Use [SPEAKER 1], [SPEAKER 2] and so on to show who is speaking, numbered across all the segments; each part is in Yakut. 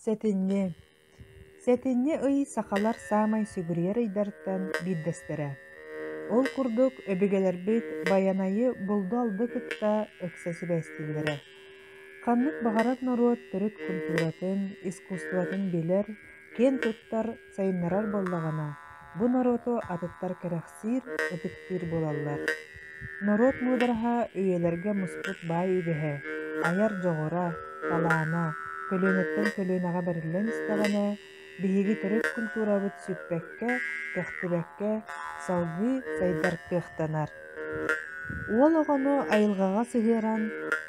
[SPEAKER 1] Сэтинньи Сэтинньи ый сахалар саамай сүгүрүйэр ыйдартан биирдэстэрэ. Ол курдук өбүгэлэрбит Байанайы булду-алды кытта ыкса сибээстииллэрэ. Ханнык баҕарар норуот төрүт культуратын, искусствотын билэр, киэн туттар Сайыннарар буоллаҕына, бу норуоту атыттар кэрэхсиир, ытыктыыр буолаллар. Норуот муудараһа үйэлэргэ муспут баай үгэһэ, айар дьоҕура, талаана көлүөнэттэн көлүөнэҕэ бэриллэн истэҕинэ, биһиги төрүт культурабыт сүппэккэ, көхтүбэккэ салгыы сайдартыахтанар. Уол оҕону айылҕаҕа сыһыаран,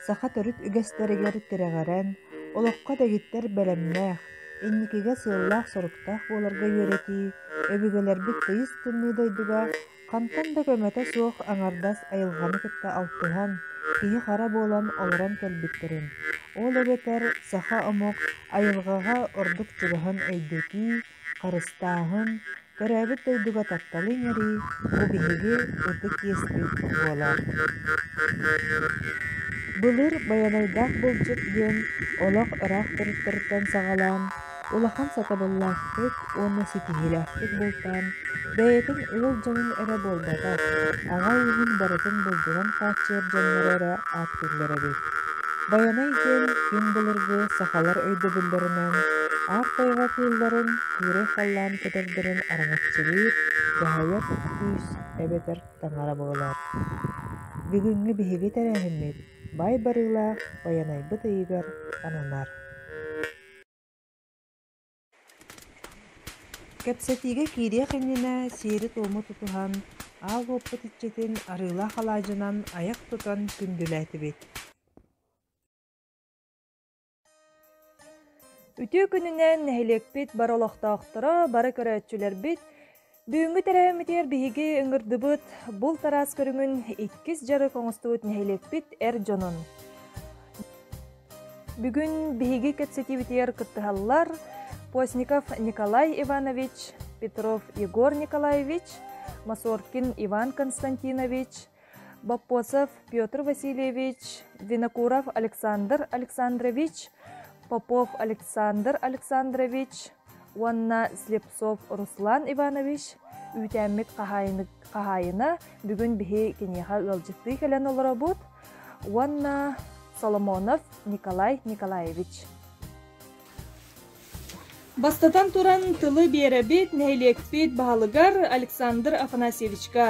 [SPEAKER 1] саха төрүт үгэстэригэр тирэҕирэн, олоххо дэгиттэр бэлэмнээх, Инникигэ сыаллаах-соруктаах буоларга үөрэтии, өбүгэлэрбит тыйыс тымныы дойдуга хантан да көмөтө суох аҥардас айылҕаны кытта алтыһан, киһи-хара буолан олорон кэлбиттэрин, ол эбэтэр саха омук айылҕаҕа ордук чугаһын өйдөтүү, харыстааһын, Төрөөбүт дойдуга тапталы иҥэрии бу биһиги ытык иэспит буолар. Былыр Байанайдаах былдьыт диэн олох ыраах туруктарыттан саҕалаан улахан сатабыллаахтык уонна ситиһиилээхтик бултаан бэйэтин ыал дьонун эрэ буолбатах, аҕа уйуһун барытын булдунан хааччыйар дьоннору эрэ ааттаабыттара. биллэрэбит. Байанай диэн күн былыргы сахалар өйдөбүллэринэн аар тайҕа кыылларын, кыырай халлаан кэтэрдэрин араҥаччылыыр даһайар күүс эбэтэр таҥара буолар. Бүгүҥҥү биһиги тэрээһиммит бай барыылаах Байанайбыт ыйыгар ананар. Кэпсэтиигэ киириэх иннинэ сиэри-туому тутуһан, аал уоппут иччитин арыылаах алаадьынан айах тутан күндүлээтибит
[SPEAKER 2] Үтүө күнүнэн нэһилиэкпит бары олохтоохторо, бары көрөөччүлэрбит Бүгүҥҥү тэрээһиммитигэр биһиги ыҥырдыбыт булт араас көрүҥүн иккис дьарык оҥостубут нэһилиэкпит эр дьонун. Бүгүн биһиги кэпсэтиибитигэр кыттыһаллар Постников Николай Иванович, Петров Егор Николаевич, Масоркин Иван Константинович, Боппосов Петр Васильевич, Винокуров Александр Александрович, Попов Александр Александрович уонна Слепцов Руслан Иванович үүтээммит хаһаайына бүгүн биһи киниэхэ ыалдьыттыы кэлэн олоробут уонна Соломонов Николай Николаевич Бастатан туран, тылы биэрэбит, нэһилиэкпит баһылыгар Александр Афанасьевичка,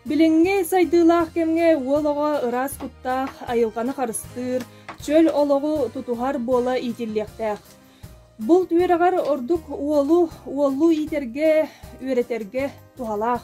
[SPEAKER 2] билиҥҥи сайдыылаах кэмҥэ уол оҕо ыраас куттаах, айылҕаны харыстыыр, чөл олоҕу тутуһар буола иитиллиэхтээх. Булт үөрэҕэр ордук уолу уоллуу иитэргэ, үөрэтэргэ туһалаах.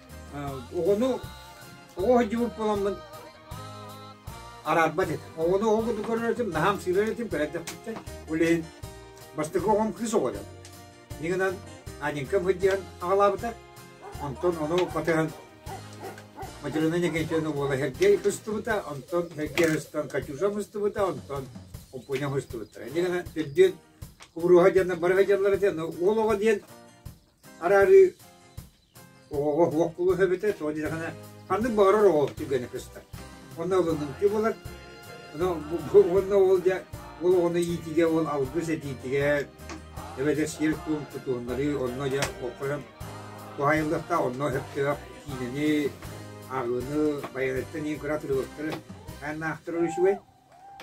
[SPEAKER 3] оҕону оҕо сылдьыбыт буоламмын араарбат этим. Оҕону оҕо курдук көрөр этим, наһаам сыырар этим, кэлэтэхпиттэн улиһин бастакы оҕом кыыс оҕо дьон. Нигынан Анинкам хыддиан аҕалаабыта. Онтон ону батыһан Материна Никитина уола Сергей хыстыбыта, онтон Сергей хыстан Катюша хыстыбыта, онтон Оппуня хыстыбыта. Нигана түрдүн кубуруха диэннэр бары хадьаллар этэ, уол оҕо диэн Араарыы оҕоҕо уһуох кулуһа эбитэ, тоҕо диэтэххинэ, ханнык баҕарар оҕоҕо түргэнник көстөр. Онно ылыныҥкы буолар, уонна ол дьэ ол оҕону иитиигэ, ол алгыс этиитигэ эбэтэр сиэр туом тутуһуннарыы онно дьэ хойон туһаайыллыахтаах, онно сөптөөх киинэни, ааҕыыны Байанеттан ин кыра трилогтары айаннаахтара үчүгэй.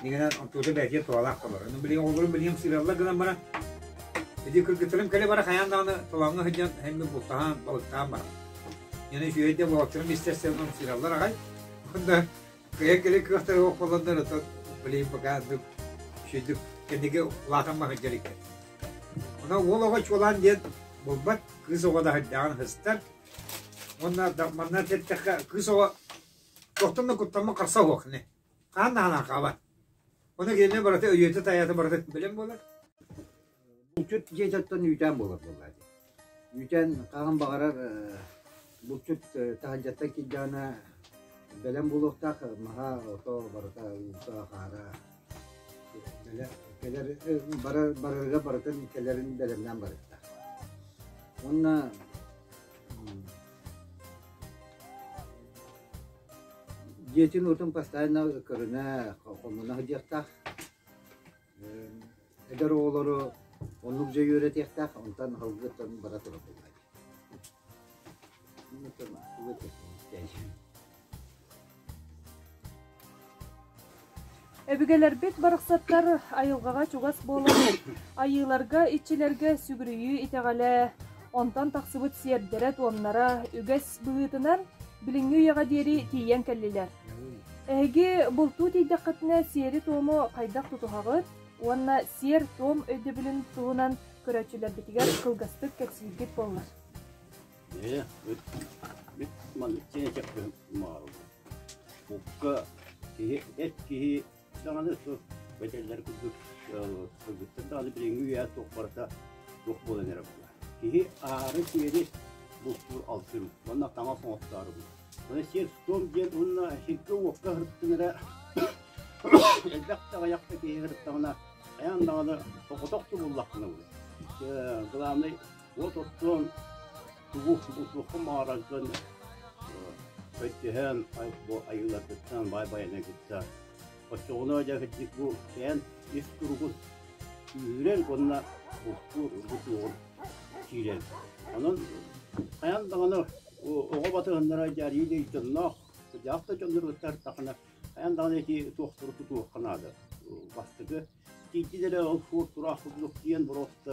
[SPEAKER 3] Дигэнэн оттуута бээтиэ туолаах толор. Ону билиҥ оҕолорум билиҥ сыыраллар гынан баран, ити кыргыттарым кэлэ бара хайаан даҕаны толооҥҥо сылдьан һэммин бултаһан, балыктаан баран. Яна үчүгэйдэ буолаччарым истэрсэн сыыраллар аҕай. Онда кыйан кэлэ кыахтары ол холлоннор ото билиҥ пока андык үшүйдүк кэннигэ улаатан маһырдьар икен. Ана уол оҕо чуолаан диэн булбат кыыс оҕо да һырдааҕын хыстар. Онна манна теттэхэ кыыс оҕо туохтан да куттаммын қарса уохне. Хаан таһынан хаалбат. Ону кинини барыта өйүөтэ-тайаата барыта билэн буолар.
[SPEAKER 4] Булчут дьиэтиттэн үүтээн буолар буолла дии. Үүтээн хаһан баҕарар э, булчут э, таһырдьаттан кирдьэҕинэ бэлэм буолуохтаах, маһа, ото барыта уута, хаара кэлэр, кэлэр э, барар, барарга барытын кэлэрин бэлэмнээн барыахтаах. Уонна Дьиэтин уутун бастайына көрүнэ хомуна сылдьыахтаах. Эдэр оҕолору оннук дьэ үөрэтиэхтээх, онтон аһылгыттан бара турар буолла.
[SPEAKER 2] Өбүгэлэрбит барахсаттар айылҕаҕа чугас буолан, айыыларга, иччилэргэ сүгүрүйүү итэҕэлэ, онтон тахсыбыт сиэрдэрэ-туомнара үгэс быһыытынан билиҥҥи үйэҕэ диэри тиийэн кэллилэр. Эһиги бултуу тиийдэххитинэ сиэри-туому хайдах тутуһаҕыт уонна сиэр-туом өйдөбүлүн туһунан көрөөччүлэрбитигэр кылгастык кэпсииргит буоллар. Ээ, бүт,
[SPEAKER 5] бүт маннык чэппин маарыллар. Букка киһи, эт киһи даҕаны су бэтэллэр курдук сылгыттан даҕаны билиҥҥи үйэ туох барыта туох буолан эрэ була. Киһи аары-сиэри бултуур алтын, манна таҥас оҥоттоору булар. Маны сир-туом диэн уонна сиргэ-уокка сырыттыҥыра элбэх таҕайахта киһи сырыттаҕына хайаан даҕаны соҕотох тубуллаххына булар. Главный От оттон тугу бултуохха маарардан бэттиһэн бу айыыларгыттан баай-байанан кытта оччоҕуна дьаһыддык бу кээн ис туругун үүрэн уонна бултуур ургутуоҕун киирэн. Онон хайаан даҕаны оҕо батыһыннара дьарыйыы дьонноох, дьахта дьонноргыттар тахана хайаан даҕаны ити туохтары тутуохха наада. Бастакы тиийдилэрэ ол суор тураах курдук диэн боруоста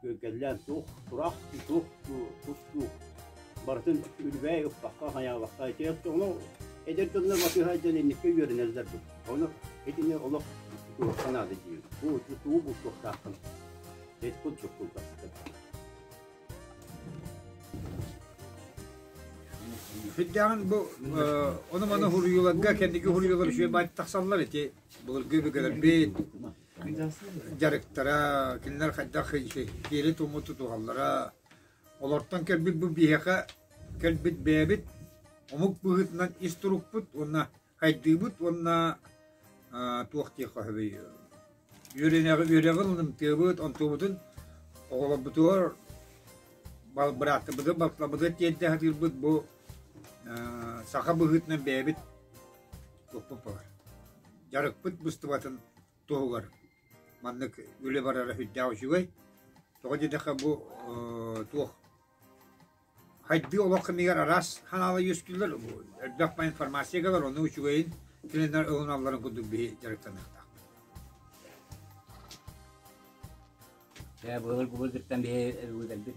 [SPEAKER 5] Күөлкэллээн туох турах, туох тустуук барытын үлүбээй ыппакка, хайаабакка ити оттоону эдэр дьоннор батыыһа дьон инникитэ үөрэнэллэр дуо? Ону итини олох туруохха наада диир. Бу тутуу бултуохтааххын. Эт курдук кылгастык. Күддэҕин
[SPEAKER 3] бу э, ону-маны хуруйууларга, кэнники хуруйуулар үчүгэй баайт тахсаллар ити былыргы бүгэрбит, дьарыктара кинилэр хайдах сиэри-туому тутуһаллара олортон кэлбит бу биһиэхэ кэлбит бэйэбит омук быһыытынан ис турукпут уонна хайдыыбыт уонна туох диэххэ сөбүй үөрэнэҕи үөрэҕин ылымтыабыт онтубутун оҕолорбутугар бырааттарбытыгар балтарбытыгар тиэрдэ сатыырбыт бу саха быһыытынан бэйэбит туохпут баар дьарыкпыт быстыбатын туһугар маннык үлэ барара сүрдээх үчүгэй. Тоҕо диэтэххэ бу э, туох хайдыы олох кэмигэр араас ханаала үөскүүллэр, элбэх информацияга бар, ону үчүгэйин тренер ылыналларын курдук биһи дьарыктаныахтаах.
[SPEAKER 6] Э, былыр губылдыктан биһи ылгыдалбыт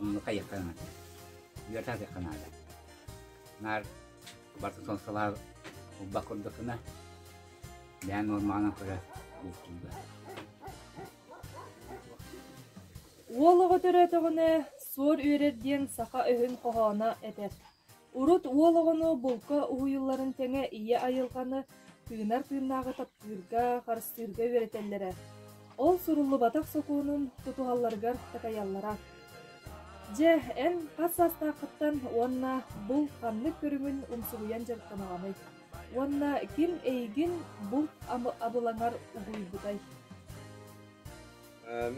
[SPEAKER 6] Онно хайыахха наада. Үөрэтэ атыахха наада. Наар барыта сонсалаах урбах курдукуна, бэйэн нормаҕынан көрө бултуйба.
[SPEAKER 2] Уол оҕо төрөөтөҕүнэ, суор үөрэр диэн саха өһүн хоһооно этэр. Урут уол оҕону булка уһуйулларын тэҥэ ийэ айылҕаны тыынар тыыннааҕы таптыырга, харыстыырга үөрэтэллэрэ, ол суруллубатах сокуонун тутуһалларыгар такайаллара. Дьэ, эн хас саастааххыттан уонна бул ханнык көрүҥүн умсугуйан дьарыктанаҕыный? Уонна ким эйигин булт абылаҥар угуйбутай?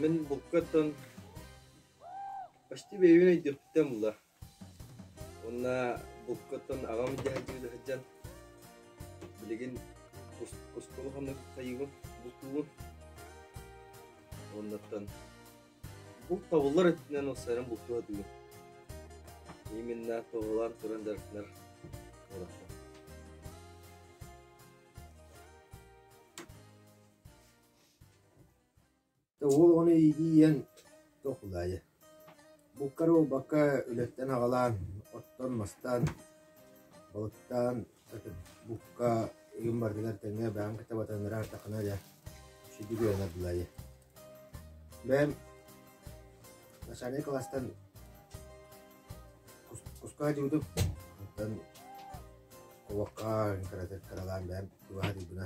[SPEAKER 7] Мин булкаттан почти бэйэбин өйдүөхпүттэн була Уонна буккаттан аҕам дьаадьыга да сылдьан билигин устуолу ханнык хайыыбын, бултуубун. Оннуттан булт табыллар өттүнэн ылсарым бултуу сатыыр. Именно тоҕулаан туран дартынар олохтон.
[SPEAKER 4] Уол ону иитийэн толкуйдаата: буккара буолбакка, үлэттэн аҕалаан, оттон мастаан, балыктаан ытыт букка игин барытыгар тэҥҥэ бэйэм кытта батыннаран ардаххына дьэ сүдү кыанардылар ээ бэйэм начальнай кылаастан куска дьуутуп оттон кулакка кыралаан бэйэм кыбаһатыйбына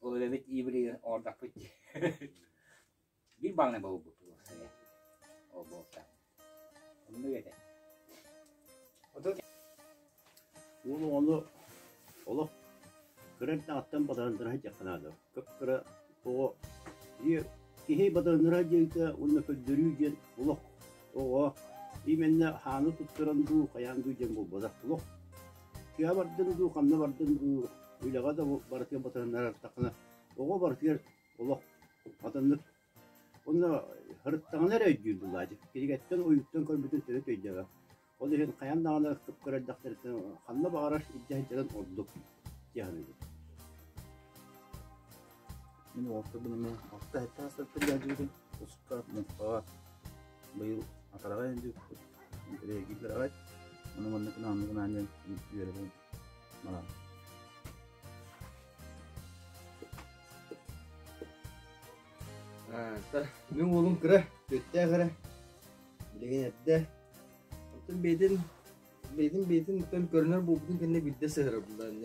[SPEAKER 6] Ол үлэбит иибилигин оордоппут биир баалынай болбут ол болта. Онну ете.
[SPEAKER 5] Уолу ону олох кыран тааттан бадаандыраһы дьаққанаада. Көпкыра тоҕо киһи бадаандыраһа диэҥкэ уонна көрдөрүү диэн олох Оҕо именно хааны туттаран дуу, хайаан дуу диэн булбатах туох. Тыа бардын дуу, ханна бардын дуу, үлэҕэ да барытыгар батыһыннарартахына, оҕо барытыгар олох атыннык Онно харыттаҕына эрэ өйдүүр булаачык. Кинигэттэн, ойууттан көрбүтүн төрөт өйдөөбөк. Ол иһин хайаан даҕаны кыпкар эрдэхтэриттэн ханна баҕарар илдьэ сылдьарын ордук тиһаныыбыт.
[SPEAKER 8] Мин уолтабын эмэ алта эттээх сарсыарда илдьээччибитин туспа муҥхаҕа быйыл атараҕа илдьибиппит интэриэһиргииллэр аҕай ону манна кынаамны гынаан диэн үөрэбин баран
[SPEAKER 7] Мин уолум кыра, түөртээх эрэ, билигин эрдэ. Оттон бэйэтин, бэйэтин бэйэтин оттон көрүнэр буолбутун кэннэ биирдэ сыһарабыллан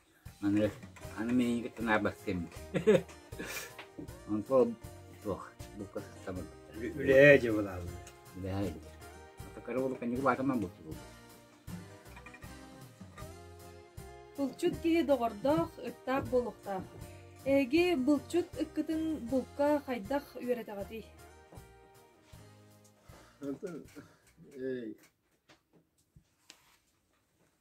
[SPEAKER 6] Аны, аны мин иһиҥкиттэн аарбат кэммит. Онтон туох букка сыстабын. Үлээ же
[SPEAKER 3] булалар. Үлээ же.
[SPEAKER 6] Такары болу кэнники баатаман булчу булду.
[SPEAKER 2] Булчут киһи доҕордоох, ыттаах болуктаах. Эги булчут ыккытын булка хайдах үөрэтэҕитий? Эй,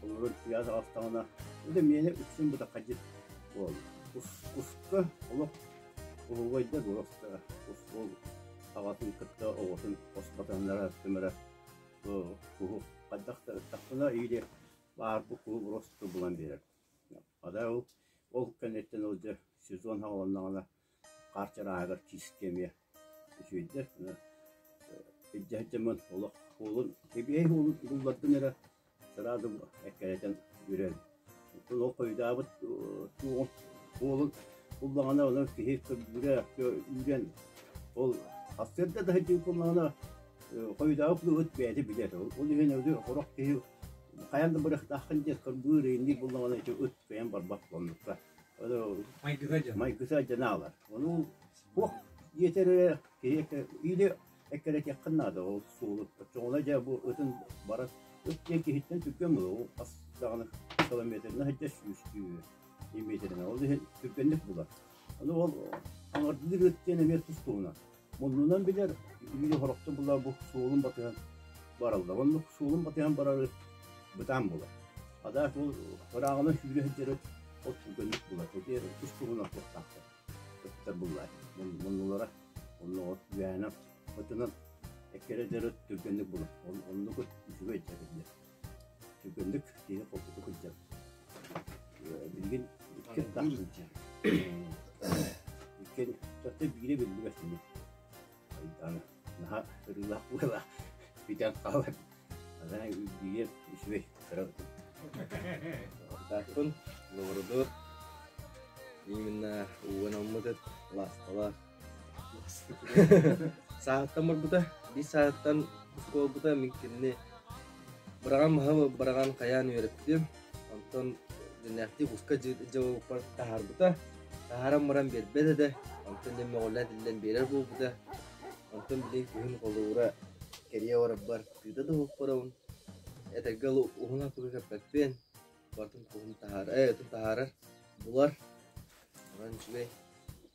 [SPEAKER 5] Холобур, сыйаас аҕыстаҕына, ити миэхэ үксүн бытаххадьыт буолла. Куска олох уһугайда дуораста Кускуол аҕатын кытта оҕотун хосботоннара түмэрэ куһу хайдах да ыттахпына или баар бу куһу буросту булан биэрэр. Хада ол ол кэнниттэн ол дьэ сезон хаҕыланнаҕына Хаарчар ааһыгар киискэ эмиэ үчүгэйдэр. Илдьэ сылдьаммын олох уолун, кэбиэһи уолун буллардым эрэ сразу эккирэтэн үрэн. Оттон ол хойутаабыт уол уолун буллаҕына онон киһи көрдүрэ үүрэн ол сарсыарда да сылдьыы буоллаҕына хойутаабыт булубут бэйэтэ билэр. Ол иһин сорох киһи хайаан да бырахтааххын диэн кырбыыр ыйынныы буллаҕына ити ыт кыйан барбат оннукка. майгыта дьон аалар. Ону туох иэтэрэ киһи или эккэрэтиэххин наада ол суолу оччоҕуна дьэ бу ытын бара ыт диэн киһиттэн түргэн мыл ол ас даҕаны километрына сылдьа сүүстүү метринэ ол иһин түргэнник булар. Ону ол аҥардыыр ыт диэн эмиэ тус туһунан. Оннунан билэр биир хорохтун була бу суолун батыһан бараллар. Оннук суолун батыһан барары бытаан булар. Адаат ол ырааҕынан сүүрэ сылдьарыт от түргэнник булар. Отиер тус туһунан туохтаахтар. Көттөр буллар. Моннулара оннугар үөһэнэн отунан эккере дэрит түргэнник булар. Оннук үчүгэй дьэбиллэр. Түргэнник киһи холкутук сылдьар. Билигин иккис да иккин төртө биири биллибэт ини. Айдаана наһаа ырыылаах буолаа бүтэн хаалар. Ана үгүйэр үчүгэй кырал. Тааккын
[SPEAKER 7] лоруду именно уонаммытыт ласталаах Саатыттан барбыта, биир саатыттан буолбута, мин кинини быраҕан баһым быраҕан хайаан үөрэттим. Онтон дэнээхтии куска дьабыппар таһаарбыта. Таһааран баран биэрбэт этэ. Онтон дьэ мөҕүллэн тиллэн биэрэр буолбута. Онтон билигин күһүн холуура кэрийэ барарбар кыыта да уһукпарабын. Этэргэ дылы уһуна тугу кэппэппиэн. Барытын куһун таһаарар, э, отун таһаарар, булар. Онон үчүгэй.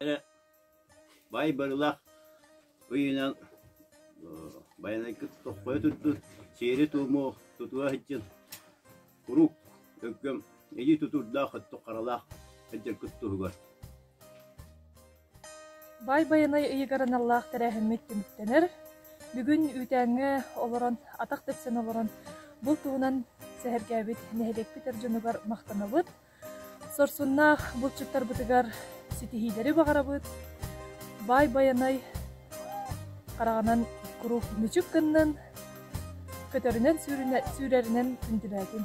[SPEAKER 2] эрэ
[SPEAKER 5] бай барылах ыйынан Байанайгыт тоххойо турдун, сиэри-туому тутуа сылдьын. Куруук өккөм илии тутуурдаах өттүк харалаах сылдьаргыт туһугар.
[SPEAKER 2] Бай Байанай ыйыгар аналлаах тэрээһиммит түмүктэнэр. Бүгүн үүтээҥҥэ олорон, атах тэпсэн олорон, бұл туһунан сэһэргээбит нэһилиэкпит эр дьонугар махтанабыт. Сорсуннаах булчуттарбытыгар ситиһиилэри баҕарабыт, баай Байанай хараҕынан куруук мүчүк гыннын, көтөрүнэн сүүрэринэн күндүлээтин.